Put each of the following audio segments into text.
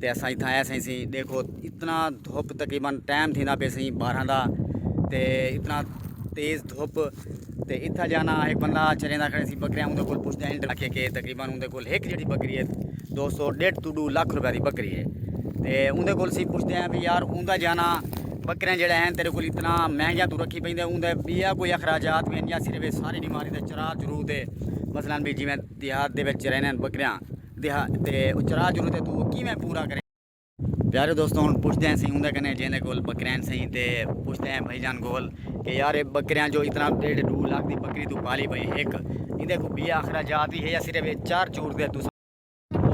تے اساں اتھاں آئے سائیں سیں دیکھو اتنا دھوپ تقریباً ٹائم تھیندا پہ سائیں بارہاں دا تے اتنا تیز دھوپ تے اتھا جانا ایک بندہ چریندا کھڑے سی بکریاں اون دے کول پوچھدے ہیں انٹر کے تقریباً اون دے کول ایک جڑی بکری ہے دو سو ڈیڑھ تو ڈو لاکھ روپے دی بکری ہے تے اون دے کول سی پوچھدے ہیں بھی یار اون دا جانا بکریاں جڑے ہیں تیرے کول اتنا مہنگیاں تو رکھی پیندے اون دے بیا کوئی اخراجات میں یا صرف ساری بیماری دے چرا چرو دے مثلا بھی جویں دیہات دے وچ رہنے بکریاں دیہا تے او چرا چرو تے تو کیویں پورا کریں۔ پیارے دوستو ہن پچھدے ہیں سیں اوندے کنے جیندے کول بکریاں سئیں تے پچھدے ہیں بھائی جان کول کہ یار اے بکریاں جو اتنا ڈیڈھ ڈو لاکھ دی بکری تو پالی بھئی ہک ایندے کو بی آخرا جات ہی ہے یا صرف اے چر چور دے تساں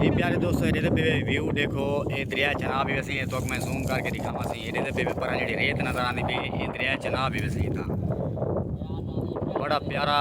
جی پیارے دوستو ایڈے دے پے ویو ڈیکھو اے دریا چناب ہی ویسیں اے توک میں زوم کر کے دکھاواں سیں ایڈے دے پے پرا جیڑی ریت نظر آندی پی اے دریا چناب ہی ویسیں تاں بڑا پیارا۔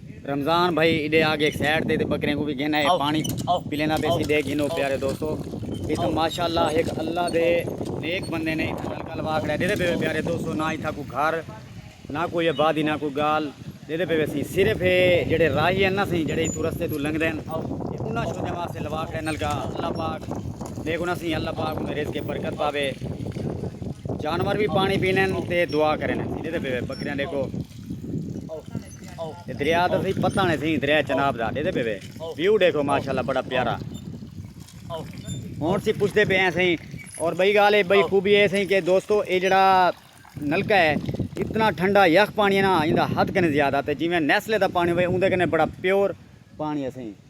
رمضان بھائی ایڈے آ گیک سائیڈ تے تے بکریں کوں وی گھن آئے پانی پلیندا پے سی ڈے گھنو پیارے دوستو اس ماشاءاللہ ایک اللہ دے نیک بندے نے اتھا نلکا لوا کھڑا دیدے پے پیارے دوستو نہ اتھا کو گھر نہ کوئی آبادی نہ کوئی گال دیدے پے سی صرف اے جڑے راہی ہیں نا سی جڑے اتھو رستے تو لنگ دین انہاں شوجہ واسطے لوا کھڑا نلکا اللہ پاک دیکھو نا سی اللہ پاک انہیں رزق برکت پاوے جانور بھی پانی پینن تے دعا کرن دیدے پے بکریاں دیکھو دریا تو سی پتہ نہیں سی دریا چناب دا دے دے پہ ویو دیکھو ماشاءاللہ بڑا پیارا ہون سی پوچھ دے پہ ہیں سی اور بھئی گالے بھئی خوبی ہے سی کہ دوستو اے جڑا نلکہ ہے اتنا ٹھنڈا یخ پانی ہے نا اندہ حد کنے زیادہ تے جی میں نیسلے دا پانی ہوئے اندہ کنے بڑا پیور پانی ہے سی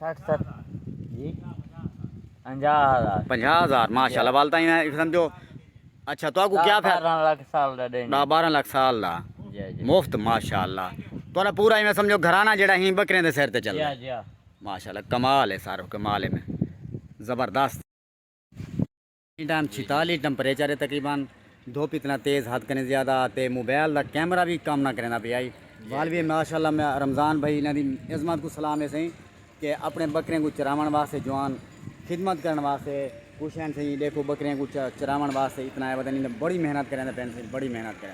سٹھ ست جی پنجاہ ہزار پنجاہ ہزار ماشاء اللہ والتا ہی نہیں سمجھو اچھا تو کو کیا پھر بارہ لاکھ سال دا دین دا بارہ لاکھ سال دا جی جی مفت ماشاء اللہ تو نہ پورا ہی میں سمجھو گھرانہ جڑا ہی بکرے دے سر تے چل رہا جی ماشاء اللہ کمال ہے سارو کمال ہے میں زبردست ٹن چھتالی ٹمپریچر ہے تقریبا دھپ اتنا تیز حد کنیں زیادہ تے موبائل دا کیمرہ وی کم نہ کریندا پیا ہئی والوی ماشاءاللہ میں رمضان بھائی انہاں دی عظمت کوں سلام ہے سئیں کہ اپنے بکریاں کوں چراوݨ واسطے جوان خدمت کرݨ واسطے کچھ ہن سئیں ڈیکھو بکریاں کوں چراوݨ واسطے اتنا ہے وتن بڑی محنت کریندے پئن سئیں بڑی محنت کریندے